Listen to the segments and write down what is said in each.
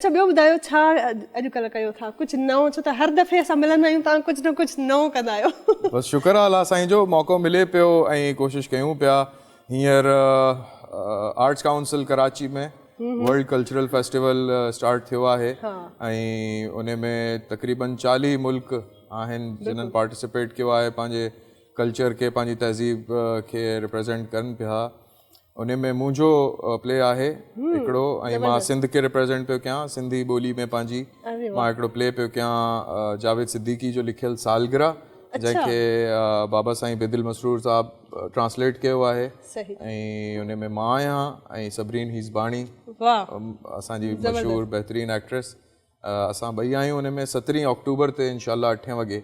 اچا ٻيو ٻڌايو ڇا اڄ ڪلهه ڪيو ٿا ڪجهه نئون ڇو ته هر دفعي اسان ملندا آهيون تان ڪجهه نه ڪجهه نئون ڪندا آهيو. بس شڪر آ الله سائين جو موقعو ملي پيو ۽ ڪوشش ڪيون پيا هينئر arts council Karachi ۾ world cultural festival start ٿيو آهي ۽ ان ۾ تقريبن چاليهه ملڪ آهن جنن پارٽيسپيٽ ڪيو آهي پنهنجي ڪلچر کي پنهنجي تهذيب کي ريپريزينٽ ڪن پيا انهي ۾ منهنجو پلي آهي هڪڙو ۽ مان سنڌ کي ريپريزينٽ پيو ڪيان سنڌي ٻولي ۾ پنهنجي مان هڪڙو پلي پيو ڪيان جاويد صديقي جو لکيل سالگرهه جنهن کي بابا سائين بيدل مسرور صاحب ٽرانسليٽ ڪيو آهي ۽ انهي ۾ مان آهيان ۽ صبرين هيزباڻي اسان جي مشهور بهترين ايڪٽريس اسان ٻئي آهيون ان ۾ سترهين آڪٽوبر تي انشاء الله اٺين وڳي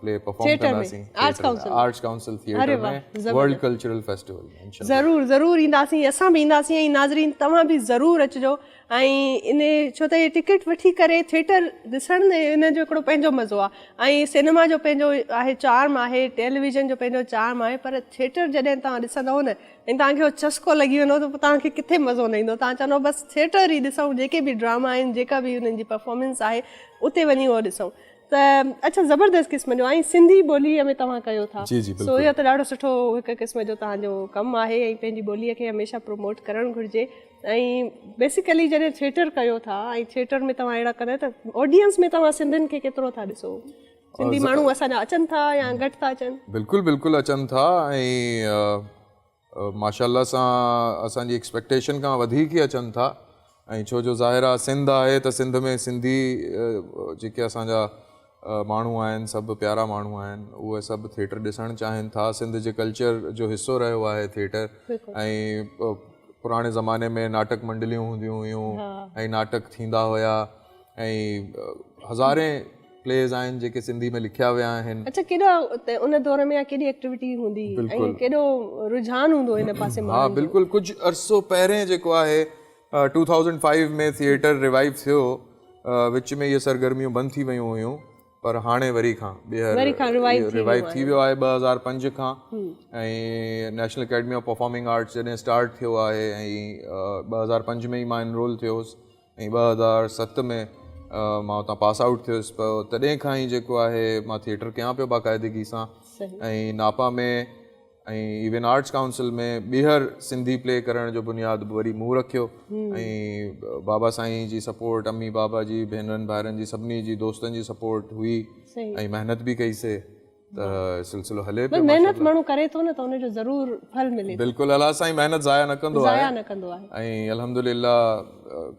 پلي پرفارم ڪنداسين arts council theatre ۾ world cultural festival ۾ ضرور ضرور اينداسين اسان به اينداسين ۽ ناظرين توهان به ضرور اچجو ۽ ان ڇو ته ٽڪيٽ وٺي ڪري ٿيٽر ڏسڻ ۾ ان جو هڪڙو پنهنجو مزو آهي ۽ سينما جو پنهنجو آهي چارم آهي ٽيليويزن جو پنهنجو چارم آهي پر ٿيٽر جڏهن تان ڏسندو نه ۽ توهان کي اهو چسڪو لڳي ويندو ته پوء توهان کي ڪٿي مزو نه ايندو توهان چوندو بس ٿيٽر ئي ڏسون جيڪي به ڊراما آهن جيڪا به انهن جي پرفارمنس آهي اتي وڃي اهو ڏسون ته اڇا زبردست قسم جو ۽ سنڌي ٻولي ۾ توهان ڪيو ٿا سو اهو ته ڏاڍو سٺو هڪ قسم جو توهان جو ڪم آهي ۽ پنهنجي ٻولي کي هميشه پروموٽ ڪرڻ گهرجي ۽ بيسيڪلي جڏهن ٿيٽر ڪيو ٿا ۽ ٿيٽر ۾ توهان اهڙا ڪندا ته آڊينس ۾ توهان سنڌين کي ڪيترو ٿا ڏسو سنڌي ماڻهو اسان جا اچن ٿا يا گهٽ ٿا اچن بلڪل بلڪل اچن ٿا ۽ ماشاء الله سان اسان جي ايڪسپيڪٽيشن کان وڌيڪ ئي اچن ٿا ۽ ڇو جو ظاهر آهي سنڌ آهي ته سنڌ ۾ سنڌي جيڪي اسان جا ماڻهو آهن سڀ پيارا ماڻهو آهن اهي سڀ ٿيئٽر ڏسڻ چاهين ٿا سنڌ جي ڪلچر جو حصو رهيو آهي ٿيئٽر ۽ پراڻي زماني ۾ ناٽڪ منڊليون هونديون هيون ۽ ناٽڪ ٿيندا هيا ۽ هزارين پليز آهن جيڪي سنڌي ۾ لکيا ويا آهن. اڇا ڪيڏا ان دور ۾ ڪيڏي ايڪٽيوٽي هوندي ۽ ڪيڏو رجحان هوندو ان پاسي ماڻهن جو. ها بلڪل ڪجهه عرصو پهرين جيڪو آهي two thousand five ۾ theatre revive ٿيو وچ ۾ اهي سرگرميون بند ٿي ويون هيون پر هاڻي وري کان ٻيهر ريوائيو ٿي ويو آهي ٻه هزار پنج کان ۽ national academy of performing arts جڏهن اسٽارٽ ٿيو آهي ۽ ٻه هزار پنج ۾ ئي مان انرول ٿيو هوس ۽ ٻه هزار ست ۾ مان اتان پاس آئوٽ ٿيس پ تڏهن کان ئي جيڪو آهي مان ٿيٽر ڪيان پيو باقاعدگي سان ۽ ناپا ۾ ۽ ايون آرٽس ڪائونسل ۾ ٻيهر سنڌي پلي ڪرڻ جو بنياد به وري مون رکيو ۽ بابا سائين جي سپورٽ امي بابا جي ڀينرن ڀائرن جي سڀني جي دوستن جي سپورٽ هئي ۽ محنت به ڪئيسي ته سلسلو هلي پيو محنت ماڻهو ڪري ٿو نه ته ان جو ضرور ڦل ملي بلڪل الله سائين محنت ضايع نه ڪندو آهي ضايع نه ڪندو آهي ۽ الحمدلله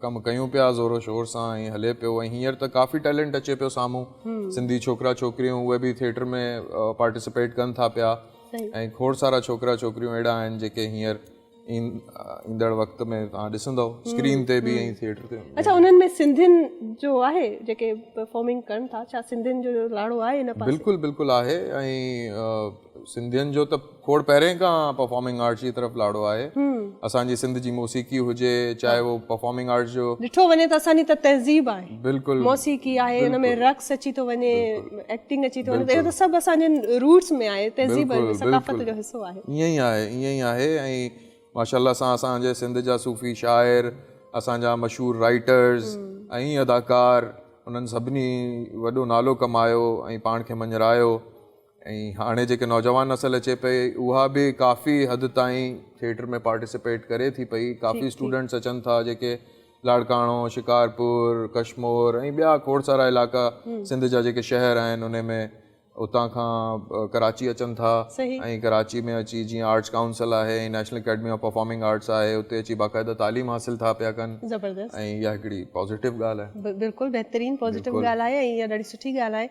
ڪم ڪيون پيا زور و شور سان ۽ هلي پيو ۽ هينئر ته ڪافي ٽيلنٽ اچي پيو سامهون سنڌي ڇوڪرا ڇوڪريون اهي به ٿيئٽر ۾ پارٽيسپيٽ ڪن ٿا پيا ۽ کوڙ سارا ڇوڪرا ڇوڪريون اهڙا آهن جيڪي هينئر ايندڙ وقت ۾ توهان ڏسندو اسڪرين تي به ۽ ٿيٽر تي اچھا انهن ۾ سنڌين جو آهي جيڪي پرفارمنگ ڪرن ٿا ڇا سنڌين جو لاڙو آهي ان پاسي بلڪل بلڪل آهي ۽ سنڌين جو ته کوڙ پهرين کان پرفارمنگ آرٽس جي طرف لاڙو آهي اسان جي سنڌ جي موسيقي هجي چاهي هو پرفارمنگ آرٽس جو ڏٺو وڃي ته اسان جي ته تهذيب آهي بلڪل موسيقي آهي ان ۾ رقص اچي ٿو وڃي ايڪٽنگ اچي ٿو وڃي اهو ته سڀ اسان جي روٽس ۾ آهي تهذيب ثقافت جو حصو آهي ائين ئي آهي ائين ئي آهي ۽ ماشاء الله سان اسان جي سنڌ جا صوفي شاعر اسان جا مشهور رائيٽرز ۽ اداڪار انهن سڀني وڏو نالو ڪمايو ۽ پاڻ کي مڃرايو ۽ هاڻي جيڪي نوجوان نسل اچي پئي اها به ڪافي حد تائين ٿيٽر ۾ پارٽيسپيٽ ڪري ٿي پئي ڪافي اسٽوڊنٽس اچن ٿا جيڪي لاڙڪاڻو شڪارپور ڪشمور ۽ ٻيا کوڙ سارا علائقا سنڌ جا جيڪي شهر آهن انهي ۾ اتان کان ڪراچي اچن ٿا ۽ ڪراچي ۾ اچي جيئن آرٽس ڪائونسل آهي ۽ national academy of performing arts آهي اتي اچي باقاعده تعليم حاصل ٿا پيا ڪن ۽ اها هڪڙي پازيٽو ڳالهه آهي. بلڪل بهترين پازيٽو ڳالهه آهي ۽ اها ڏاڍي سٺي ڳالهه آهي.